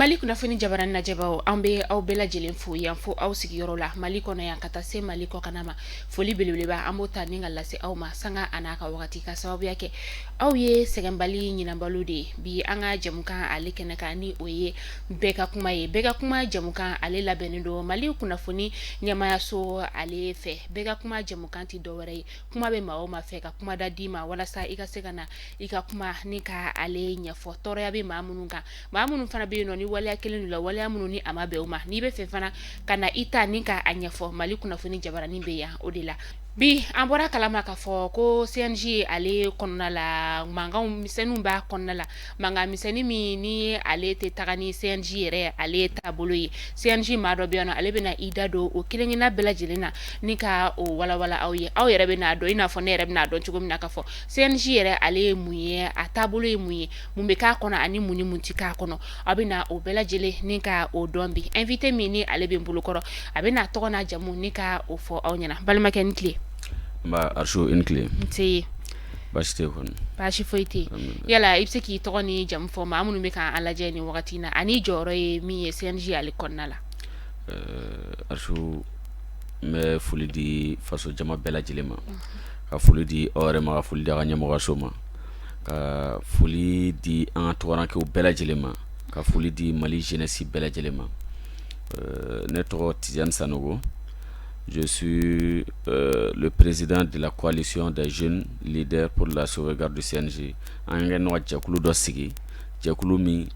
mali kunnafoni jabaranin lajɛbaaw an be aw bɛɛ lajɛlen fo yan fo aw sigiyɔrɔ la mali kɔnɔ yan ka taa se mali kɔkanna ma foli belebeleba an b'o ta ni ka lase aw ma sanga an'a ka wagati ka sababuya kɛ aw ye sɛgɛnbali ɲinan balo de ye bi an ka jɛmukan ale kɛnɛ kan ni o ye bɛɛ ka kuma ye bɛɛ ka kuma jɛmukan ale labɛnnen don mali kunnafoni ɲɛmaayaso ale fɛ bɛɛ ka kuma jɛmukan tɛ dɔ wɛrɛ ye kuma bɛ maa o maa fɛ ka kuma da d'i ma walasa i ka se ka na i ka kuma ni ka ale ɲɛfɔ tɔɔrɔya bɛ maa minnu kan maa minnu fana bɛ yen nɔ ni waleya kelen don la waleya minnu ni a ma bɛn o ma n'i bɛ fɛ fana ka na i ta ni ka a ɲɛfɔ mali kunnafoni jabaranin bɛ yan o de la Bi an bɔra kalama k'a fɔ ko CNJ ale kɔnɔna la mankan misɛnninw b'a kɔnɔna la mankan misɛnnin min ni ale tɛ taga ni CNJ yɛrɛ ale ye taabolo ye CNJ maa dɔ bɛ yan ale bɛna i da don o kelen-kelenna bɛɛ lajɛlen na ni ka o walawala aw ye aw yɛrɛ bɛn'a dɔn i n'a fɔ ne yɛrɛ bɛn'a dɔn cogo min na k'a fɔ CNJ yɛrɛ ale ye mun ye a taabolo ye mun ye mun bɛ k'a kɔnɔ ani mun ni mun tɛ k'a kɔnɔ aw bɛna o bɛɛ lajɛlen ni ka o dɔn bi invité min ni ale bɛ n bolokɔrɔ a bɛna a tɔgɔ n'a jamu ni ka o fɔ aw ɲɛna balimakɛ i ni tile. N ba Arisu i ni tile. Nse. Baasi tɛ yen kɔni. Baasi foyi tɛ yen. Alihamidulilayi. Yala i bɛ se k'i tɔgɔ ni jamu fɔ maa minnu bɛ ka an lajɛ nin wagati in na ani i jɔyɔrɔ ye min ye CNJ ale kɔnɔna la. Ɛɛ Arisu n bɛ foli di faso jama bɛɛ lajɛlen ma. Unhun. Ka foli di aw yɛrɛ ma ka foli di aw ka ɲɛmɔgɔyaso ma. ka foli di an ka tungarankɛw bɛɛ lajɛlen ma ka foli di mali jeunesse bɛɛ lajɛlen ma ne tɔgɔ Tidiane Sanogo je suis le président de la coalition des jeunes leaders pour la sauvegarde du CNJ an ka ɲɔgɔn jɛkulu dɔ sigi jɛkulu min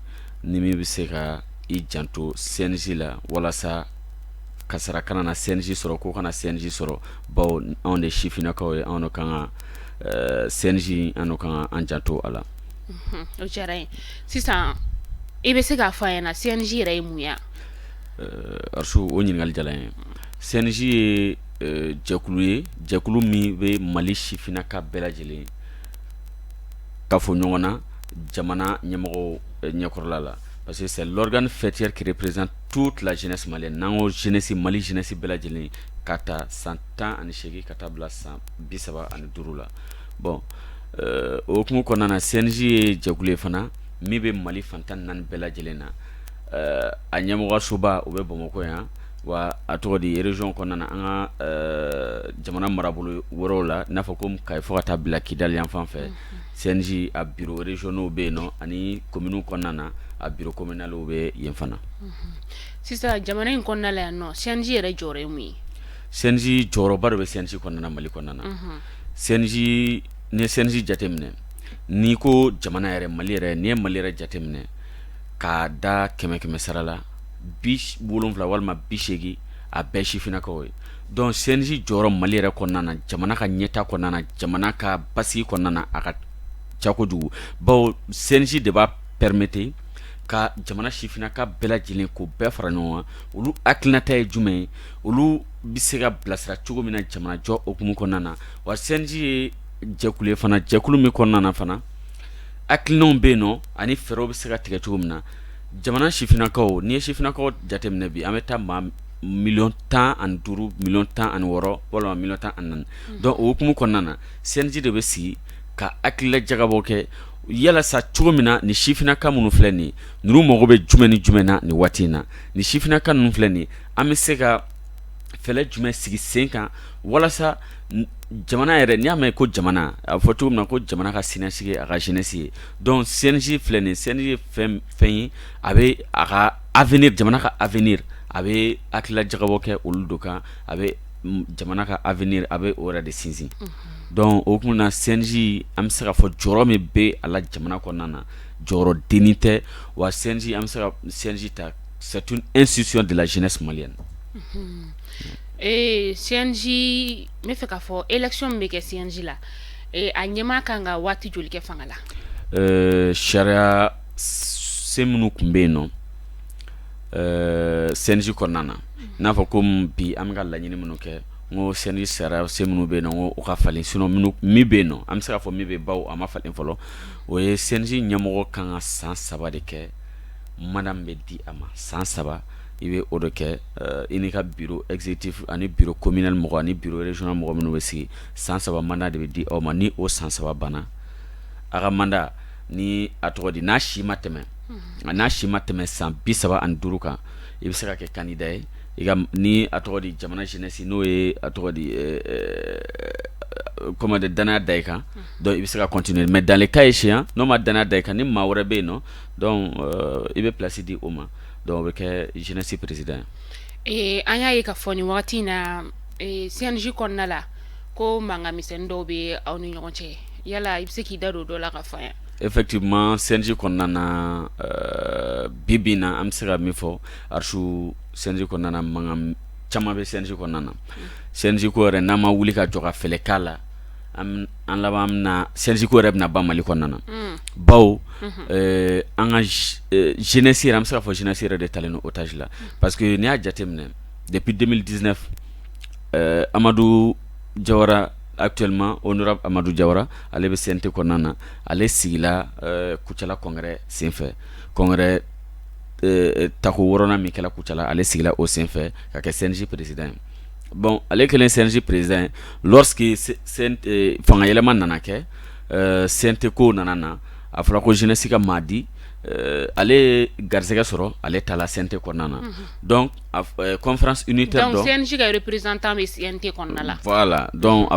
ni min bɛ se ka i janto CNJ la walasa kasara kana na CNJ sɔrɔ ko kana CNJ sɔrɔ bawo anw de sifinnakaw ye anw de kan ka eh, CNJ anw kan k'an janto a la o diyara n ye sisan i bɛ se k'a fɔ an ɲɛna CNJ yɛrɛ ye mun ye Arisu o ɲininkali diyara n ye CNJ ye eh, jɛkulu ye jɛkulu min bɛ mali sifinnakaw bɛɛ lajɛlen kafo ɲɔgɔn na jamana ɲɛmɔgɔw eh, ɲɛkɔrɔla la parce que c'est l'organe faîtière qui représente toute la jeunesse malienne n'an ko jeunesse mali jeunesse bɛɛ lajɛlen ka ta san tan ani seegin ka taa bila san bi saba ani duuru la bon o hukumu kɔnɔna na CNJ ye jɛkulu ye fana min bɛ mali fan tan ni naani bɛɛ lajɛlen na a ɲɛmɔgɔsoba o bɛ bamakɔ yan wa a tɔgɔ di région kɔnɔna na an ka jamana marabolo wɛrɛw la n'a fɔ ko kayi fo ka taa bila kidali yan fan fɛ CNJ a bureau régionaux bɛ yen nɔ ani komini kɔnɔna na a bureau communal bɛ yen fana sisan jamana in kɔnɔna la yan nɔ CNJ yɛrɛ jɔyɔrɔ ye mun ye CNJ jɔyɔrɔba de bɛ CNJ kɔnɔna mali kɔnɔna na CNJ n'i ye CNJ jateminɛ n'i ko jamana yɛrɛ mali yɛrɛ n'i ye mali yɛrɛ jateminɛ k'a da kɛmɛ kɛmɛ sara la bi wolowula walima bi seegin a bɛɛ sifinnakaw ye donc CNJ jɔyɔrɔ mali yɛrɛ kɔnɔna na jamana ka ɲɛtaa kɔnɔna jamana ka basigi kɔnɔna a ka ca kojugu bawo CNJ de b'a permettre ka jamana sifinnaka bɛɛ lajɛlen k'o bɛɛ fara ɲɔgɔn kan olu hakilinata ye jumɛn ye olu bɛ se ka bilasira cogo min na jamanajɔ hukumu kɔnɔna na wa CNJ ye jɛkulu ye fana jɛkulu min kɔnɔna fana hakilinaw bɛ yen nɔ ani fɛɛrɛw bɛ se ka tigɛ cogo min na jamana sifinnakaw n'i ye sifinnakaw jateminɛ bi an bɛ taa maa miliyɔn tan ani duuru miliyɔn tan ani wɔɔrɔ walima miliyɔn tan ani naani donc o hukumu kɔnɔna na CNJ de bɛ sigi ka hakilila jagabɔ kɛ yalasa cogo min na nin sifinnaka minnu filɛ nin ninnu mago bɛ jumɛn ni jumɛn na nin waati in na nin sifinnaka ninnu filɛ nin an bɛ se ka fɛɛrɛ jumɛn sigi sen kan walasa jamana yɛrɛ n'i y'a mɛn ko jamana a fɔ cogo min na ko jamana ka siniɲɛsigi a ka jeunesse ye donc CNJ filɛ nin CNJ ye fɛn ye a bɛ a ka avenir jamana ka avenir a bɛ hakilila jagabɔ kɛ olu de kan a bɛ jamana ka avenir a bɛ o yɛrɛ de sinsin donc o hukumu na CNJ an bɛ se ka fɔ jɔyɔrɔ min bɛ a la jamana kɔnɔna na jɔyɔrɔ dennin tɛ wa CNJ an bɛ se ka CNJ ta C'est une institution de la jeunesse malienne ee CNJ n bɛ fɛ k'a fɔ élection min bɛ kɛ CNJ la a ɲɛmaa kan ka waati joli kɛ fanga la ɛɛ sariyasen minnu tun bɛ yen nɔ ɛɛ CNJ kɔnɔna na n'a fɔ ko bi an bɛ ka laɲini minnu kɛ n ko CNJ sariyasen minnu bɛ yen nɔ ko u ka falen sinon min bɛ yen nɔ an bɛ se k'a fɔ min bɛ yen bawo a ma falen fɔlɔ o ye CNJ ɲɛmɔgɔ kan ka san saba de kɛ manda bɛ di a ma san saba i bɛ o de kɛ i n'i ka bureau exécutif ani bureau communal mɔgɔ ani bureau régional mɔgɔ minnu bɛ sigi san saba manda de bɛ di aw ma ni o san saba banna a ka manda ni a tɔgɔ di n'a si ma tɛmɛ nka n'a si ma tɛmɛ san bi saba ani duuru kan i bɛ se ka kɛ candidat ye i ni a tɔgɔ di jamana jeunesse n'o ye a tɔgɔ di comment danaya da i kan donc i bɛ se ka continuer mais dans le cas échéant n'o ma danaya da i kan ni maa wɛrɛ bɛ yen nɔ donc i bɛ place di o ma donc o bɛ kɛ jeunesse président ee an y'a ye ka fɔ nin wagati in na CNJ kɔnɔna la ko mankan misɛn dɔw bɛ aw ni ɲɔgɔn cɛ yala i bɛ se k'i da don dɔ la ka fɔ an ye effectivement CNJ kɔnɔna na bibi in na an bɛ se ka min fɔ Arsu CNJ kɔnɔna na mankan caman bɛ CNJ kɔnɔna na CNJ ko yɛrɛ n'an ma wuli ka jɔ ka fɛɛrɛ k'a la an laban bɛna na sinjiko yɛrɛ bɛna na ban mali kɔnɔna na baw an ka jɛnɛsi an bɛ se fɔ jɛnɛsi yɛrɛ de ta ni o tasi la parce que n'i y'a jateminɛ depi den diinɛ amadu jayarara akitolilima o amadu jayarara ale bɛ sen tɛ kɔnɔna na ale sigila kucala kɔnkɛɛrɛ senfɛ kɔnkɛɛrɛ tako wɔɔrɔn minkɛla kucala ale sigila o senfɛ ka kɛ sinji peresida ye bɔn ale kɛlen sinsi perez ye fangayɛlɛma nana kɛ sente ko nana na a fɔra ko zinasi ka maa di ale garisɛgɛ sɔrɔ ale ta la sente kɔnɔna na dɔn a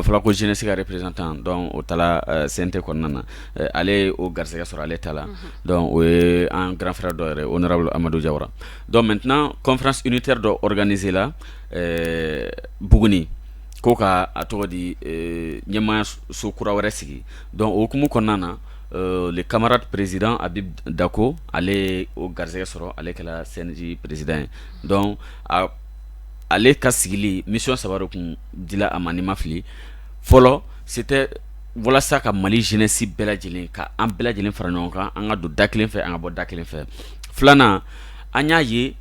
fɔra ko zinasi ka perez tan o sente kɔnɔna na ale o garisɛgɛ sɔrɔ ale ta la o ye an garanɛrɛ dɔw yɛrɛ o amadu jara mɛt kɔnfte dɔ k2e la ɛɛ Buguni ko ka a tɔgɔ di ɛɛ ɲɛmaayaso kura wɛrɛ sigi donc o hukumu kɔnɔna na euh le camarade président Habib Dako ale ye o garisɛgɛ sɔrɔ ale kɛla CNJ président ye donc a ale ka sigili mission saba de tun dila a ma ni n ma fili fɔlɔ c'était walasa ka Mali jeunesse bɛɛ lajɛlen ka an bɛɛ lajɛlen fara ɲɔgɔn kan an ka don da kelen fɛ an ka bɔ da kelen fɛ filanan an y'a ye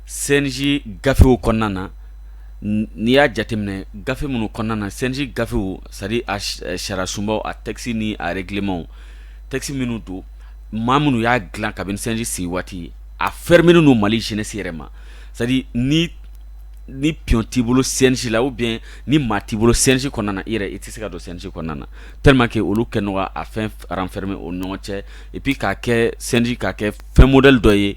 sinji gafew kɔnɔna na n'i y'a jateminɛ gafe minnu kɔnɔna na sinji gafew sadi sariyasunbaw a tɛkisi ni ararikilimaw tɛkisi minnu don maa minnu y'a dilan kabini sinji sigi waati a fɛri minnu don mali sini se yɛrɛ ma ni ni pti bolo sinsi la u bɛ ni maa ti bolo sinsi kɔnɔna i yɛrɛ i tɛ se ka don sinsi kɔnɔna na teri kɛ olu kɛ nɔgɔya a fɛn fɛnme o ɲɔgɔn cɛ ipi k'a kɛ sinji ka kɛ fɛn mod dɔ ye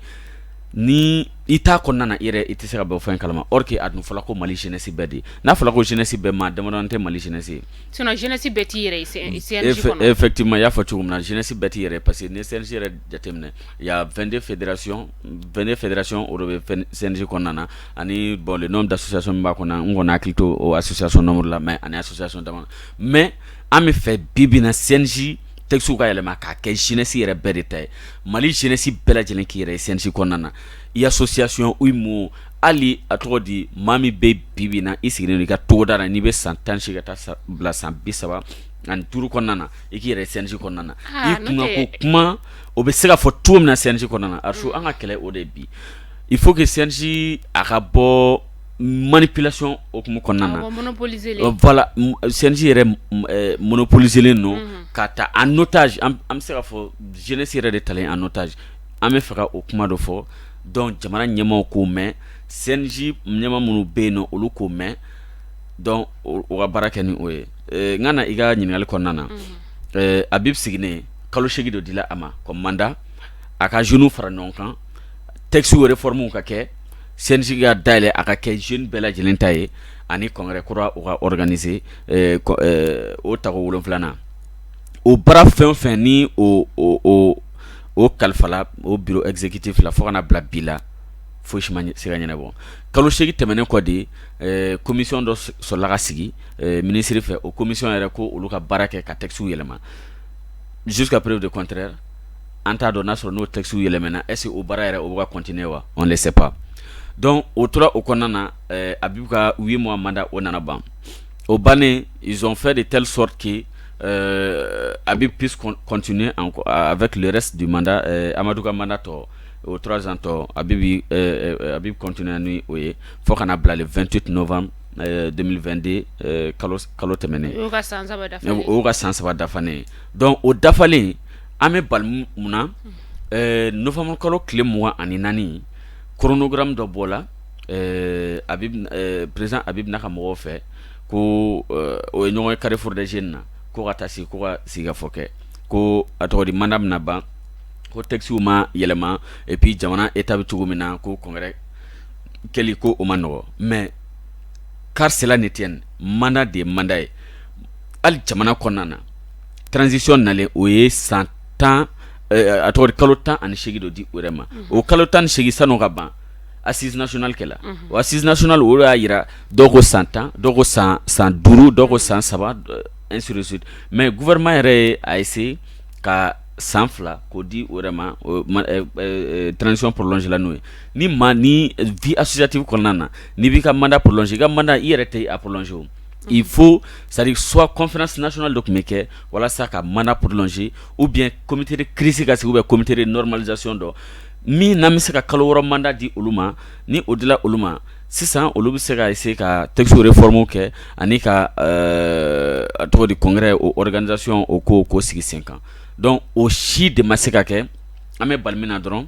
ni i t' kɔnɔna na i yɛrɛ i tɛ se ka bɔ fɛn kalama o kɛ a dun fɔlɔ ko mali jsi bɛɛ de n'a fɔra ko jsi bɛɛ maa dama tɛ mali jsi jsi bɛɛ t'i yɛrɛ fɛti ma y'a fɔ cogo min na jsi bɛɛ' yɛrɛ parce que ni selisi yɛrɛ jateminɛ yan2de fɛdsiɔn2 fɛdsiɔn o de bɛ sinsi kɔnɔna na ani bɔn n' da suyasi b'a kɔnɔ n kɔni hakili to o a susisi nɔnmuru la mɛ ani susisi dama mɛ an bɛ fɛ bibina sinsi texte ka yɛlɛma k'a kɛ jeunesse yɛrɛ bɛɛ de ta ye Mali jeunesse bɛɛ lajɛlen k'i yɛrɛ ye CNJ kɔnɔna na i ye association ou mot hali a tɔgɔ di maa min bɛ bi bi in na i sigilen don i ka togoda la n'i bɛ san 18 ka taa bila san 35 kɔnɔna na i k'i yɛrɛ ye CNJ kɔnɔna na i kunkan ko kuma o bɛ se ka fɔ cogo min na CNJ kɔnɔna na Arço an ka kɛlɛ o de ye bi il faut que CNJ a ka bɔ manipulation oumu kɔnɔna na voilà CNJ yɛrɛ monopoliser len don k'a ta en otage an bɛ se ka fɔ jeunesse yɛrɛ de talen en otage an b'a fɛ ka o kuma dɔ fɔ donc jamana ɲɛmaaw k'o mɛn CNJ ɲɛmaa minnu bɛ yen na olu k'o mɛn donc u ka baara kɛ ni o ye n ka na i ka ɲininkali kɔnɔna na Abibu sigilen kalo segin dɔ dila a ma comme mandat a ka jeunes fara ɲɔgɔn kan texte réformew ka kɛ sinsin ka daɛlɛn a ka kɛ z bɛɛ lajɛlen ta ye ani kɔnkɛɛrɛ kura u kae o ta wolo filanan o bara fɛn fɛn ni o kalifala o bi ɛzekiti fila fo kana bila bi la foyi si sira ɲɛna bɔ kalo seg tɛmɛnen kɔ de ye komi dɔ sɔrɔlala ka sigi minisiriri fɛ o komi yɛrɛ ko olu ka baara kɛ ka kisiw yɛlɛma su ka perew de kɔnte an t'a dɔn n'a sɔrɔ n'o texte yɛlɛmana est ce que o baara yɛrɛ o bɛ ka continuer wa on ne sait pas donc o tora o kɔnɔna na ɛɛ Abibu ka 8 mois mandat o nana ban o bannen ils ont fait de telle sorte que ɛɛ Abibu puisse con continuer encore avec le reste du mandat ɛɛ Amadu ka mandat tɔ o 3 ans tɔ Abibu ɛɛ ɛ Abibu continuer ra ni o ye fo ka na bila le 28 novembre ɛɛ 2022 ɛɛ kalo kalo tɛmɛnen o y'o ka san 3 dafa ye donc o dafalen an bɛ bali mun na novembre kalo tile mugan ani naani chronogramme dɔ bɔla a président Abibu n'a ka mɔgɔw fɛ ko o ye ɲɔgɔn ye Carrefour des Jeunes na ko ka taa se ko ka sigikafɔ kɛ ko a tɔgɔ di mandat bɛna ban ko textew ma yɛlɛma et puis jamana état bɛ cogo min na ko congrès kɛli ko o man nɔgɔ mais qu'à cela ne tienne mandat de ye mandat ye hali jamana kɔnɔna na transition nalen o ye san tan a tɔgɔ di kalo 18 dɔ di o yɛrɛ ma o kalo 18 sanni o ka ban assise nationale kɛra o assise nationale o de y'a jira dɔw ko san tan dɔw ko san duuru dɔw ko san saba ainsi de suite mais gouvernement yɛrɛ ye a essayer ka san fila k'o di o yɛrɛ ma transition prolonger la n'o ye ni maa ni vie associative kɔnɔna na n'i b'i ka mandat prolonger i ka mandat i yɛrɛ tɛ a prolonger o. i fo sari swa kɔnfna sina dɔ tun bɛ kɛ walasa ka mana pdse u bi cote kiirisi ka sigi bɛ cotere nɔrɔmalizsi dɔn min na bɛ se ka kalo yɔrɔ manda di olu ma ni o dilan olu ma sisan olu bɛ se ka se ka tɛgɛgɛure fɔmu kɛ ani ka tɔgɔ di kɔnkɛ o kanizsiɔn o ko k'o sigi sen kan dɔn o si de ma se ka kɛ an bɛ bali min na dɔrɔn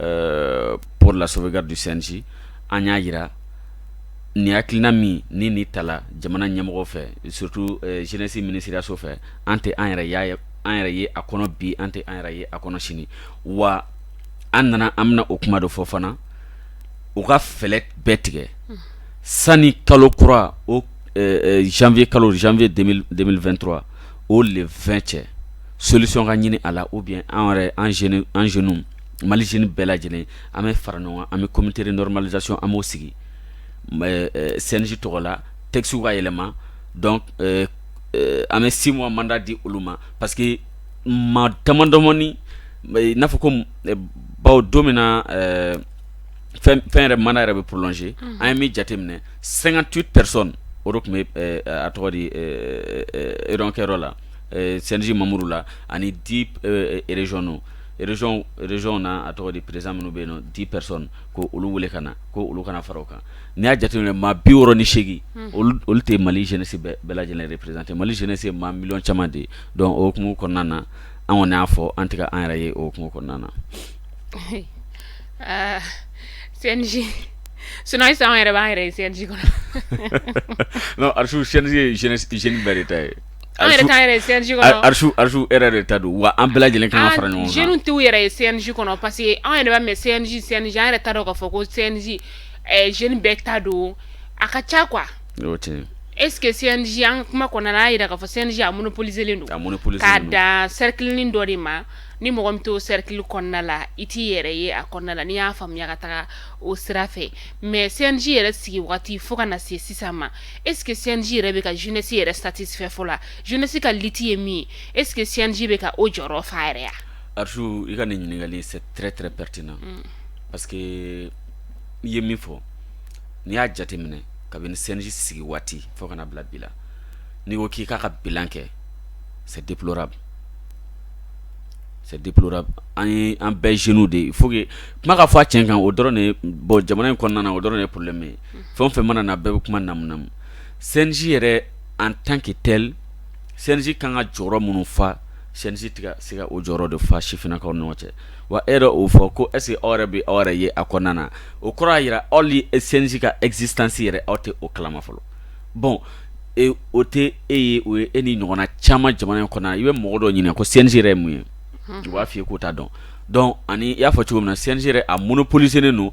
Ɛɛ pour la sauvegarde du CNJ an y'a jira nin hakilina min ni ni tala jamana ɲɛmɔgɔ fɛ surtout jeunesse minisiriyaso fɛ an tɛ an yɛrɛ y'a an yɛrɛ ye a kɔnɔ bi an tɛ an yɛrɛ ye a kɔnɔ sini wa an nana an bɛna o kuma dɔ fɔ fana u ka fɛɛrɛ bɛɛ tigɛ sani kalo kura o janvier kalo janvier 2023 o le 20 cɛ solution ka ɲini a la ou bien an yɛrɛ an jeunes mali z bɛɛ lajɛlen an bɛ fara ɲɔgɔn an bɛ cote nɔrɔmalizc an b'o sigi sinsi tɔgɔ la tɛsiw ka yɛlɛma an bɛ si ma manda di olu ma parce que ma tadɔmani n'a fɔ ko baw don min na fɛn yɛrɛ mana yɛrɛ bɛ plɔnse an ye min jateminɛ san tu pɛresɔn o de tun bɛ a tɔgɔ di akɛ la sinsi mamuru la ani di rezsonɔn régionw na a tɔgɔ di président minnu bɛ yen 10 personnes ko olu wele ka na ko olu ka na fara u kan n'i y'a jate minɛ maa biwɔɔrɔ ni seegin olu tɛ Mali jeunesse bɛɛ lajɛlen représenter Mali jeunesse ye maa miliyɔn caman de ye donc o hukumu kɔnɔna na an kɔni y'a fɔ an tɛ ka an yɛrɛ ye o hukumu kɔnɔna na aa CNJ sinon an yɛrɛ b'an yɛrɛ ye CNJ kɔnɔ Arsu CNJ ye jeunes bɛɛ de ta ye An yɛrɛ t'an yɛrɛ ye CNJ kɔnɔ, a Arsu Arsu e yɛrɛ de ta don wa an bɛɛ lajɛlen ka kan ka fara ɲɔgɔn kan, an jeunes t'u yɛrɛ ye CNJ kɔnɔ parce que an yɛrɛ b'a mɛn CNJ CNJ an yɛrɛ t'a dɔn k'a fɔ ko CNJ ɛ jeunes bɛɛ ta don a ka ca quoi o tiɲɛ ye, est ce que CNJ an ka kuma kɔnɔna na an y'a jira k'a fɔ CNJ a monopoliserlen don, a monopoliserlen don, k'a dan cerclenin dɔ de ma ni mɔgɔ min t'o cercle kɔnɔna la i t'i yɛrɛ ye a kɔnɔna la n'i y'a faamuya ka taga o sira fɛ mais CNJ yɛrɛ sigi waati fo ka na se sisan ma Est ce que CNJ yɛrɛ bɛ ka jeunesse yɛrɛ satisfait fɔ la jeunesse ka lutte ye min ye est ce que CNJ bɛ ka o jɔyɔrɔ fa yɛrɛ yan Arsu i ka nin ɲininkali c'est très très pertinent parce que i ye min fɔ n'i y'a jateminɛ kabini CNJ sigi waati fo ka na bila bi la n'i ko k'i k'a ka bilan kɛ c'est déplorable c'est déplorable an ye an bɛɛ jeunew de il faut que kuma ka fɔ a tiɲɛ kan o dɔrɔn de bon jamana in kɔnɔna o dɔrɔn de problème ye fɛn o fɛn mana na bɛɛ bɛ kuma namu CNJ yɛrɛ en tant que tel CNJ kan ka jɔyɔrɔ minnu fa CNJ tɛ ka se ka o jɔyɔrɔ de fa sifinnakaw ni ɲɔgɔn cɛ wa e yɛrɛ o fɔ ko est-ce que aw yɛrɛ bɛ aw yɛrɛ ye a kɔnɔna na o kɔrɔ y'a jira aw CNJ ka existence yɛrɛ aw tɛ o kalama fɔlɔ bon o tɛ e ye o ye e ni ɲɔgɔnna caman jamana in kɔnɔna na i bɛ mɔgɔ dɔ ɲininka ko CNJ yɛrɛ ye mun ye u b'a fɔ i ye k'u t'a dɔn donc ani i y'a fɔ cogo min na CNJ yɛrɛ a monopolisélen don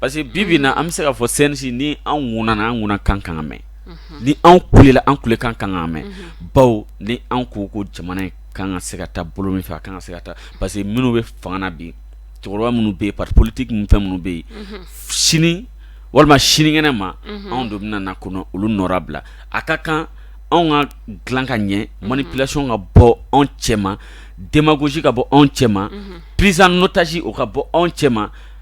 parce que bi bi in na an bɛ se k'a fɔ CNJ ni an ŋunana an ŋunakan kan ka mɛn ni an kulela an kulekan kan ka mɛn bawo ni an ko ko jamana kan ka se ka taa bolo min fɛ a kan ka se ka taa parce que minnu bɛ fanga la bi cɛkɔrɔba minnu bɛ yen parti politique minnu fɛn minnu bɛ yen sini walima sinikɛnɛ ma anw de bɛna na ka na olu nɔrɔbila a ka kan anw k'a dilan ka ɲɛ manipulation ka bɔ anw cɛ ma démagogie ka bɔ anw cɛ ma prise en otage o ka bɔ anw cɛ ma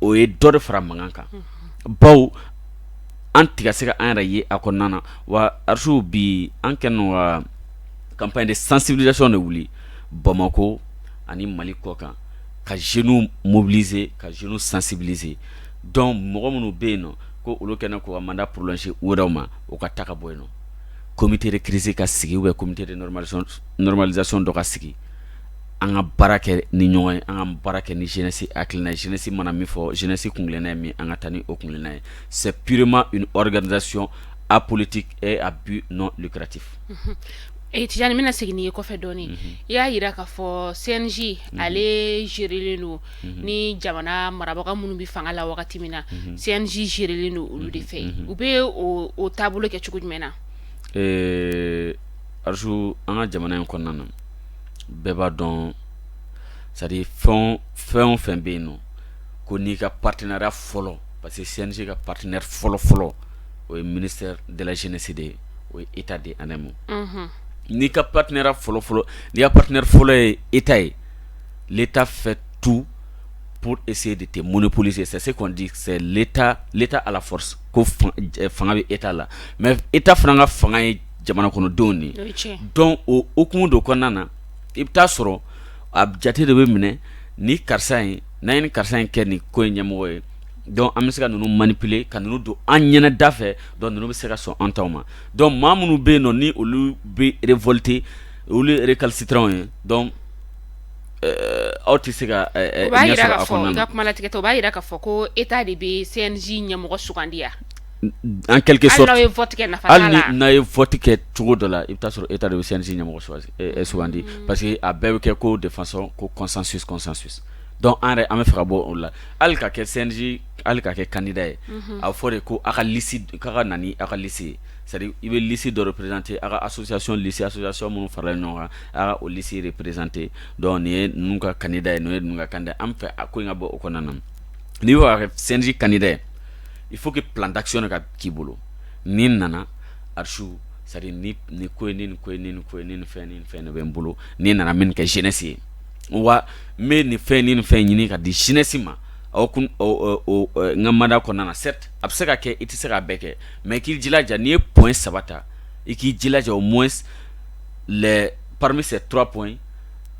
o ye dɔ de fara mankan kan baw an tiga se an yɛrɛ ye a ko nana wa ararisiw bi an kɛ ka kaba de sansibilaso de wuli bamakɔ ani mali kɔ kan ka z mobilize ka z sansibize dɔn mɔgɔ minnu bɛ yen ko olu kɛlen ko a ma plasi wɛrɛw ma o ka taga ka bɔ yen nɔ komitere kiriz ka sigi bɛ cote dɔka sigi an ka baara kɛ ni ɲɔgɔn ye an ka baara kɛ ni jeunesse hakilina ye jeunesse mana min fɔ jeunesse kungilenna ye min an ka taa ni o kungilenna ye c'est purement une organisation apolitique et à but non lucratif e Tijani n bɛna segin n'i ye kɔfɛ dɔɔnin i y'a jira k'a fɔ CNJ ale gérélen don ni jamana marabaga minnu bɛ fanga la wagati min na CNJ gérélen don olu de fɛ u bɛ o taabolo kɛ cogo jumɛn na eee Archou an ka jamana in kɔnɔna na bɛɛ b'a dɔn sadi fɛn fɛn o fɛn bɛ yen nɔn ko n'i ka patiinara fɔlɔ pa que sinse ka patiina fɔlɔ fɔlɔ o ye mini dalalacsesi de ye o ye e ta di ani ma n'i ka patiinara fɔlɔfɔlɔ n'i ka patiina fɔlɔ ye e ta ye ta fɛ tu p ese de tɛ munni polise sase ta ala fanga bɛ e t' la mɛ e ta fana ka fanga ye jamana kɔnɔdenw de ye donc o hukumu de kɔnɔna na i bɛ taa sɔrɔ a jate de bɛ minɛ ni karisa in n'an ye ni karisa in kɛ nin ko in ɲɛmɔgɔ ye donc an bɛ se ka ninnu manipuler ka ninnu don an ɲɛna da fɛ donc ninnu bɛ se ka sɔn an taw ma donc maa minnu bɛ yen nɔ ni olu bɛ révolter olu ye récalcitrants ye donc aw tɛ se ka ɲɛ sɔrɔ a kɔnɔna na i ka kuma latigɛ tɛ o b'a jira k'a fɔ ko état de bɛ CNJ ɲɛmɔgɔ sugandi yan An kɛlɛke sɔrɔ n'aw ye fɔti kɛ cogo dɔ la i bɛ sɔrɔ e ta bɛ sinsin ɲɛmɔgɔ sugandi parce que a bɛɛ bɛ kɛ ko de fasɔn ko kɔsansusanssu dɔn an yɛrɛ an bɛ fɛ bɔ o la hali ka kɛ sinsin hali ka kɛ kandida ye a fɔ de ko a ka nan a ka lisi sari i bɛ lisi dɔ perezte a ka sososasiyon lisiya sɔsɔ minnu farala ɲɔgɔn kan o lisire perezte dɔn ye ninnu ka kanda ye n'o ye kan an fɛ a ko in ka bɔ o kɔnɔna na n'i' sinsin kanda ye il faut que plan d'action de ka k'i bolo n'i nana archive c'est à dire ni nin ko in ni nin ko in ni nin ko in ni nin fɛn ni nin fɛn de bɛ n bolo ni n nana n bɛ nin kɛ jeunesse ye wa n bɛ nin fɛn ni nin fɛn ɲini ka di jeunesse ma aw kun o o n ka mandat kɔnɔna na certes a bɛ se ka kɛ i tɛ se k'a bɛɛ kɛ mais i k'i jilaja n'i ye point saba ta i k'i jilaja au moins les parmi ces trois points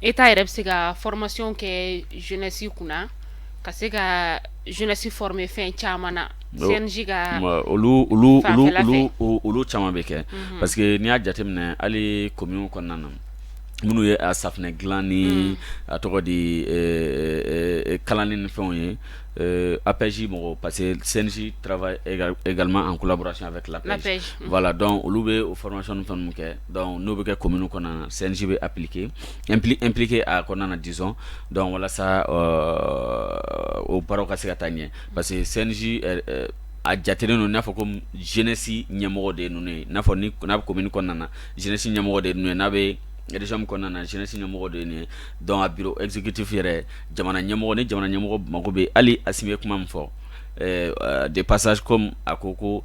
e t'a yɛrɛ bɛ se ka fmasi kɛ zɛsi kunna ka se ka zɛsi f bɛ fɛn caman na ka olu olu caman bɛ kɛ parce que n'i y'a jateminɛ hali ko minnu kɔnɔna na minnu ye safunɛ dila ni a tɔgɔ di kalan ni ni fɛnw ye apzsi mɔgɔ parce que sɛsi ga an kolakurasi fɛ tila wala dɔn olu bɛ o fɔrɔmasi fɛn kɛ Dɔnku n'o bɛ kɛ ko minnu kɔnɔna na sinji bɛ apkepke a kɔnɔna na dison dɔn walasa o baara ka se ka taa ɲɛ parce que sinsi a jate ninnu n'a fɔ ko jɛnɛsi ɲɛmɔgɔ de ninnu ye n'a fɔ n'a bɛ kɔmimmiini kɔnɔna na jɛnɛsi ɲɛmɔgɔ de ye n'a bɛ reresimu kɔnɔna na jɛnɛsi ɲɛmɔgɔ de ye dɔn a bi ezkitifi yɛrɛ jamana ɲɛmɔgɔ ni jamana ɲɛmɔgɔ mako bɛ hali a si bɛ kuma min fɔ de pasa a ko ko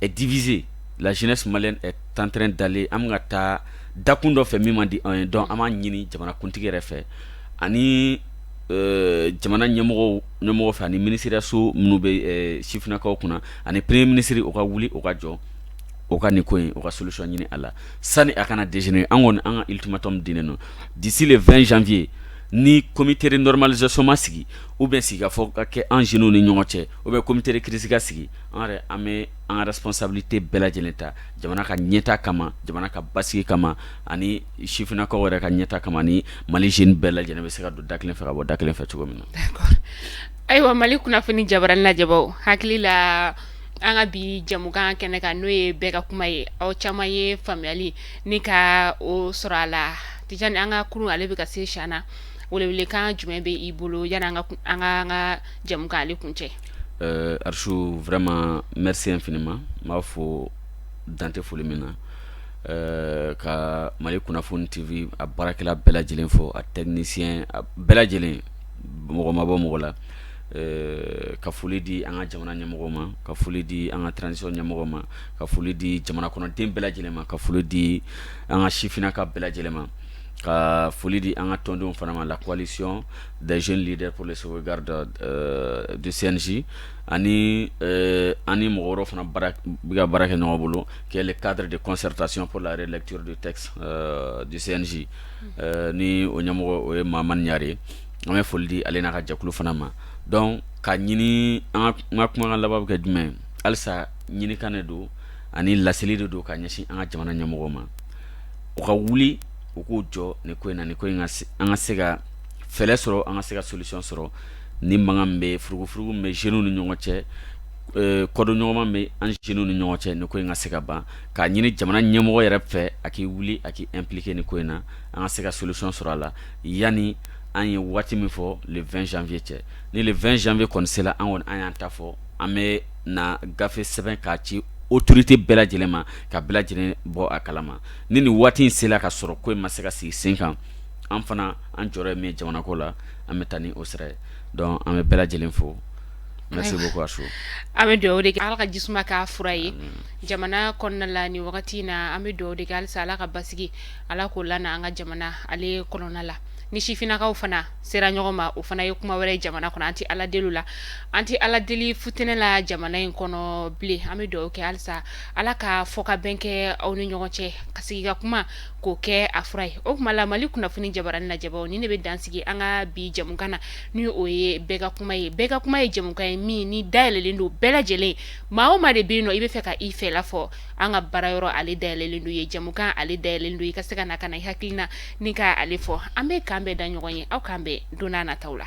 est divisée la jeunesse malienne est en train d'aller an bɛ ka taa dakun dɔ fɛ min man di anw ye donc an b'a ɲini jamanakuntigi yɛrɛ fɛ ani jamana ɲɛmɔgɔw ɲɛmɔgɔ fɛ ani minisiriso minnu bɛ sifinnakaw kunna ani premier ministre o ka wuli o ka jɔ o ka nin ko in o ka solution ɲini a la sani a kana dégénérer an kɔni an ka ultimatum dilen don d'ici le 20 janvier ni comité de normalisation ma sigi ou bien sigikafɔ ka kɛ an jeunes ni ɲɔgɔn cɛ ou bien comité de crise ka sigi an yɛrɛ an bɛ an ka responsabilité bɛɛ lajɛlen ta jamana ka ɲɛtaa kama, jamana ka basigi kama ani sifinnakaw yɛrɛ ka ɲɛtaa kama ani Mali jeunes bɛɛ lajɛlen bɛ se ka don da kelen fɛ ka bɔ da kelen fɛ cogo min na. D'accord ayiwa Mali kunnafoni jabarani lajɛbaaw hakili la an ka bi jɛmukan kɛnɛ kan n'o ye bɛɛ ka kuma ye aw caman ye faamuyali ni ka o sɔrɔ a la Tijani an ka kurun ale bɛ ka se siyaan na welewelekan jumɛn bɛ i bolo yanni an ka an ka jɛmukan ale kuncɛ? Ɛɛ Arshu vraiment merci infiniment n b'a fo dan tɛ foli min na, ɛɛ ka Mali kunnafoni TV a baarakɛla bɛɛ lajɛlen fo, a technicien a bɛɛ lajɛlen mɔgɔ ma bɔ mɔgɔ la, ɛɛ ka foli di an ka jamana ɲɛmɔgɔ ma, ka foli di an ka transition ɲɛmɔgɔ ma, ka foli di jamana kɔnɔden bɛɛ lajɛlen ma, ka foli di an ka sifinnaka bɛɛ lajɛlen ma, ka foli di an ka tɔndenw fana ma la coalition des jeunes leaders pour la sauvegarde du euh, CNJ ani euh, an ni mɔgɔ wɛrɛw fana bɛ ka baara kɛ ɲɔgɔn bolo qui est le cadre de concertation pour la relecture du texte euh, du CNJ euh, ni o ɲɛmɔgɔ o ye Mamani Ɲare ye an bɛ foli di ale n'a ka jɛkulu fana ma donc k'a ɲini an ka kumakan laban bɛ kɛ jumɛn ye halisa ɲinikan de don ani laseli de don ka ɲɛsin an ka jamana ɲɛmɔgɔw ma u ka wuli u k'u jɔ nin ko in na nin ko in ka se an ka se ka fɛlɛ sɔrɔ an ka se ka solution sɔrɔ ni mankan min bɛ furugufurugu min bɛ jeunes ni ɲɔgɔn cɛ kɔdonɲɔgɔnma min bɛ an jeunes ni ɲɔgɔn cɛ nin ko in ka se ka ban k'a ɲini jamana ɲɛmɔgɔ yɛrɛ fɛ a k'i wuli a k'i impliquer nin ko in na an ka se ka solution sɔrɔ a la yanni an ye waati min fɔ le 20 janvier cɛ ni le 20 janvier kɔni sera an kɔni an y'an ta fɔ an bɛ na gafe sɛbɛn k'a ci autorité bɛɛ lajɛlen ma ka bɛɛ lajɛlen bɔ a kalama ni nin waati in sera ka sɔrɔ ko in ma se ka sigi sen kan an fana an jɔyɔrɔ min jamana ko la an bɛ taa ni o sira donc an bɛ bɛɛ lajɛlen fo merci beaucoup an bɛ dugawu de kɛ ala ka jisuma k'a fura ye jamana kɔnɔna la ni wagati in na an bɛ dugawu de kɛ halisa ala ka basigi ala k'o lana an ka jamana ale kɔnɔna la ni sifinnakaw fana sera ɲɔgɔn ma o fana ye kuma wɛrɛ ye jamana kɔnɔ an tɛ ala deli la an tɛ ala deli futinɛ la jamana in kɔnɔ bilen an bɛ dugawu kɛ halisa ala ka fɔ ka bɛn kɛ aw ni ɲɔgɔn cɛ ka sigi ka kuma k'o kɛ a fura ye o kuma la mali kunnafoni jabaranin lajɛbaw ni ne bɛ dansigi an ka bi jɛmukan na ni o ye bɛɛ ka kuma ye bɛɛ ka kuma ye jɛmukan ye min ni dayɛlɛnlen don bɛɛ lajɛlen maa o maa de bɛ yen ni i b'a fɛ ka i fɛla fɔ an ka baara yɔrɔ ale dayɛlɛnlen don ye jɛmukan ale dayɛlɛnlen don i ka se ka na ka na i hakilina ni ka ale fɔ an bɛ k'an bɛn da ɲɔgɔn ye aw k'an bɛn don nataw la